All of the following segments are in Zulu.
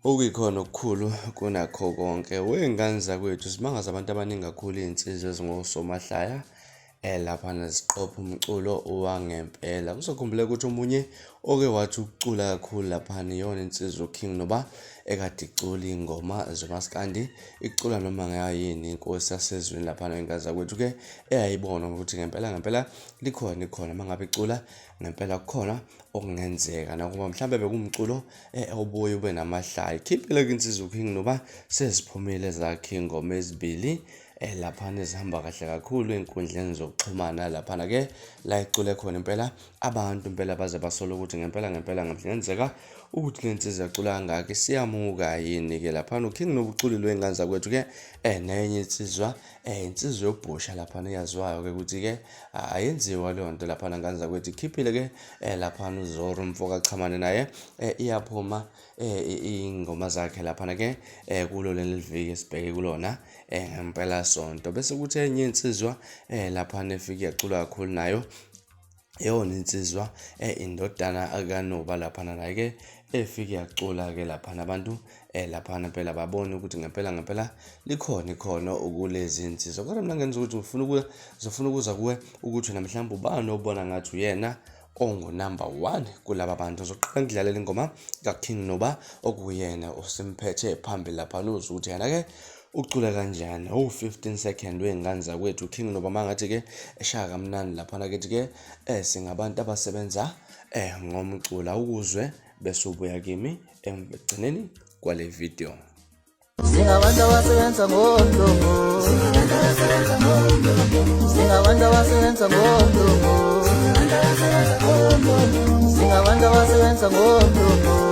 Okuyikhona okukhulu kunakho konke wey'ngane zakwethu simangaza abantu abaningi kakhulu iy'nsizwa ezingosomahlaya um laphana ziqopha umculo wangempela kuzokhumbuleka ukuthi omunye oke wathi ukucula kakhulu laphana iyona insizwa uking noba ekade icula iy'ngoma zomaskandi icula noma ngayini inkosi yasezweni laphana iy'ngane zakwethu-ke eyayibona ukuthi ngempela ngempela likhona ikhona uma ngabe icula ngempela kukhona okungenzeka nakuba mhlawumbe bekumculo Eh, awubuye ube namahlaya khiphile kwinsizwa uking noba seziphumile zakhe ingoma ezibili eh, laphana ezihamba kahle kakhulu ey'nkundleni zokuxhumana laphana ke la icule khona impela abantu impela baze basole ukuthi ngempela ngempela ngenzeka ukuthi le nsizwa ecula kangaka isiyamuka yini-ke laphana uking nobuculile wey'ngane zakwethu-ke um nenye insizwa Eh, insizwa yobhosha laphana eyaziwayo-ke ukuthi-ke ayenziwa leyo nto laphana ngane zakwethu ikhiphile-ke um eh, laphana uzoro umfo kachamane naye um iyaphuma um iy'ngoma zakhe laphana-ke um kulo leli viki esibheke kulona um ngempela sonto bese kuthi enye insizwa um laphana efike yacula kakhulu nayo eyona insizwa eh, indodana kanoba laphana naye-ke efike yacula-ke laphana abantu eh laphana phela babone ukuthi ngempela ngempela likhona ikhono ukulezi insizwa kodwa mina ngenza ukuthi ngifuna ukuya ngizofuna ukuza kuwe ukuthi wena mhlawumbe ubani obona ngathi uyena ongunumber one kulaba bantu ngizoqala ngidlalela ingoma kaking noba okuyena osimphethe phambili laphana uze ukuthi yena-ke ucula kanjani owu 15 second wey'ngane zakwethu king nobama ngathi ke eshaya kamnandi laphana kithi ke eh singabantu abasebenza eh ngomcula ukuzwe bese ubuya kimi ekugcineni kwale video singabantu abasebenza ngondumo singabantu abasebenza ngondumo singabantu abasebenza ngondumo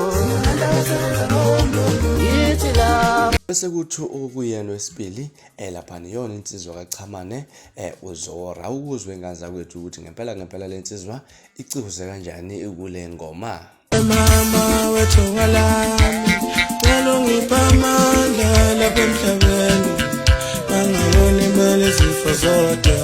bese kuthi okuyena wesibili eh lapha niyona insizwa kaChamane eh uzora ukuzwe inganza kwethu ukuthi ngempela ngempela lensizwa icihuze kanjani kule ngoma mama wethu ngalami cela ungipha amandla lapha emhlabeni angaboni imali izifo zodwa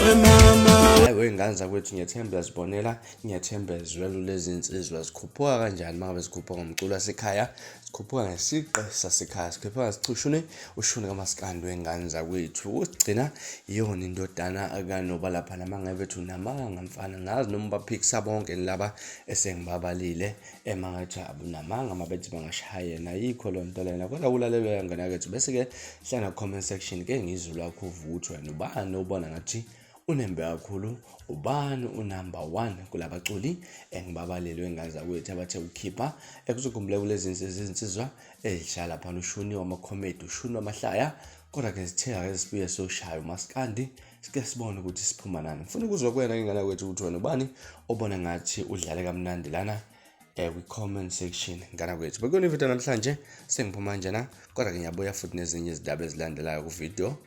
we mama we nganza kwethu ngiyethemba Ngiyazibonela ngiyathemba ezwelo lezi nsizwa zikhuphuka kanjani uma ngabe zikhuphuka ngomculo wasekhaya sikhuphuka ngesiqe sasekhaya sikhuphuka ngesicushuni ushuni kamaskandi wengane zakwethu ukugcina iyona indodana kanoba lapha nama ngebethu namanga mfana ngazi noma baphikisa bonke laba esengibabalile emangathi abunamanga uma bethi bangashayena yikho loo nto lena kodwa kulalelwa yangena kethu bese-ke hlana comment section ke ngizulwa khuvuthwa nobani obona ngathi unembe kakhulu ubani unumber one kulabaculi engibabalelwe ngazakwethu abathe ukukhipha ekuzokhumbuleka kulezi nsizwa izinsizwa ezidlala lapha ushuni wamakhomedi ushuni wamahlaya kodwa ke zitheka ke sibuye soshaya umaskandi sike sibone ukuthi siphuma nani ngifuna ukuzwa kwena ingane kwethu ukuthi wena ubani obona ngathi udlale kamnandi lana eh kwi-comment section ngana kwethu bekuyona ividiyo namhlanje sengiphuma njena kodwa ke ngiyabuya futhi nezinye izindaba ezilandelayo kuvidiyo